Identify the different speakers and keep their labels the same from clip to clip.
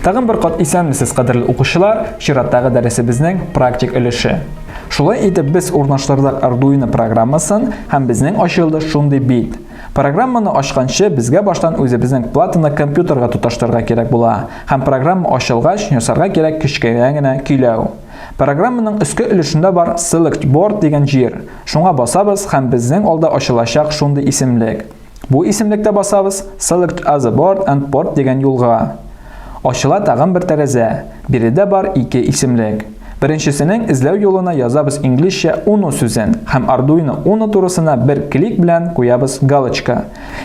Speaker 1: Тагын бер кат исәнмесез, кадерле укучылар, чираттагы дәресебезнең практик өлеше. Шулай итеп без урнаштырдык Arduino программасын һәм безнең ачылды шундый бит. Программаны ачканчы безгә баштан үзебезнең платаны компьютерга тоташтырырга кирәк була һәм программа ачылгач ясарга кирәк кечкенә генә көйләү. Программаның өске өлешендә бар Select Board дигән җир. Шуңа басабыз һәм безнең алда ачылачак шундый исемлек. Бу исемлектә басабыз Select Other Board and Port дигән юлга. Ачыла тагын бер тәрәзә. Биредә бар ике исемлек. Беренчесенең эзләү юлына язабыз инглизчә Uno сүзен һәм Arduino Uno турысына бер клик белән куябыз галочка.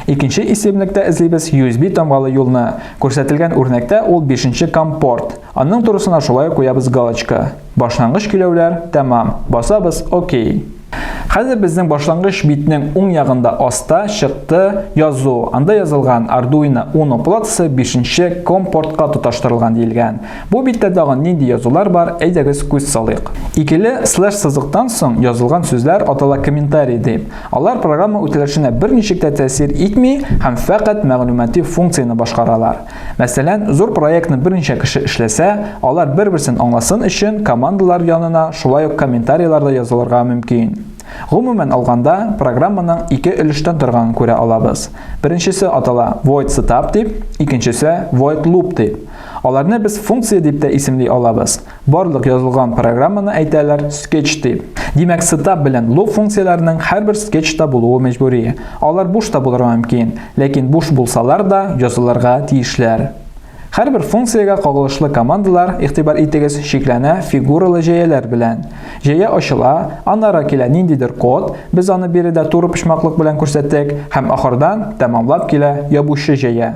Speaker 1: Икенче исемлектә эзлибез USB тамгалы юлны. Күрсәтелгән үрнәктә ул бишенче COM порт. Анның турысына шулай куябыз галочка. Башлангыч көйләүләр, тәмам. Басабыз, окей. Хәзер безнең башлангыч битнең уң ягында аста, чыкты, язу. Анда язылган Arduino Uno платасы бишенче COM портка тоташтырылган диелгән. Бу биттә тагын нинди язулар бар, әйдәгез күз салыйк. Икеле слэш сызыктан соң язылган сүзләр атала комментарий дип. Алар программа үтәлешенә берничек тә тәэсир итми һәм фәкать мәгълүмати функцияне башкаралар. Мәсәлән, зур проектны берничә кеше эшләсә, алар бер-берсен аңласын өчен командалар янына шулай ук комментарийлар да язылырга мөмкин. Гомумән алганда, программаның ике өлештән торганын күрә алабыз. Беренчесе атала void setup дип, икенчесе void loop дип. Аларны без функция дип тә исемли алабыз. Барлык язылган программаны әйтәләр скетч дип. Димәк, сетап белән луп функцияләренең һәрбер скетчта булуы мәҗбүри. Алар буш та булырга мөмкин, ләкин буш булсалар да язылырга тиешләр. Һәрбер функциягә кагылышлы командалар, игътибар итегез, чикләнә фигуралы җәяләр белән. Җәя ачыла, аннары килә ниндидер код, без аны биредә туры почмаклык белән күрсәттек, һәм ахырдан тәмамлап килә ябучы җәя.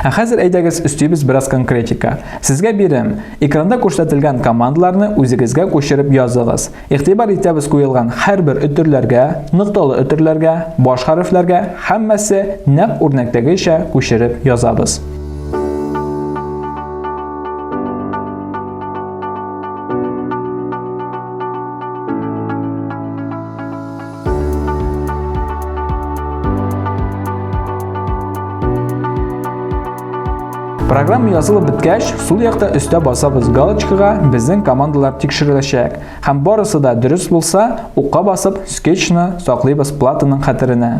Speaker 1: Ә хәзер әйдәгез өстибез бераз конкретика. Сезгә бирем. Экранда күрсәтелгән командаларны үзегезгә күчереп языгыз. Игътибар итәбез куелган һәрбер өтерләргә, нокталы өтерләргә, баш хәрефләргә һәммәсе нәкъ үрнәктәгечә күчереп язабыз. Программа язылып беткәч, сул якта өстә басабыз галочкага безнең командалар тикшереләчәк. Һәм барысы да дөрес булса, укка басып, скетчны саклыйбыз платаның хәтеренә.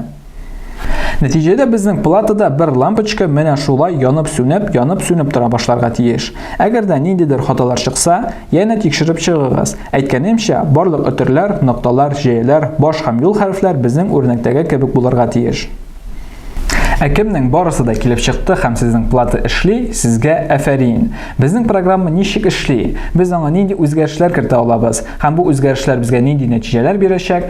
Speaker 1: Нәтиҗәдә безнең платада бер лампочка менә шулай янып-сүнеп, янып-сүнеп тора башларга тиеш. Әгәр дә ниндидер хаталар чыкса, янә тикшереп чыгыгыз. Әйткәнемчә, барлык өтерләр, нокталар, җәяләр, баш һәм юл хәрефләр безнең үрнәктәге кебек булырга тиеш. Ә кемнең барысы да килеп чыкты һәм сезнең плата эшли, сезгә әфәрин. Безнең программа ничек эшли? Без аңа нинди үзгәрешләр кертә алабыз? Һәм бу үзгәрешләр безгә нинди нәтиҗәләр бирәчәк?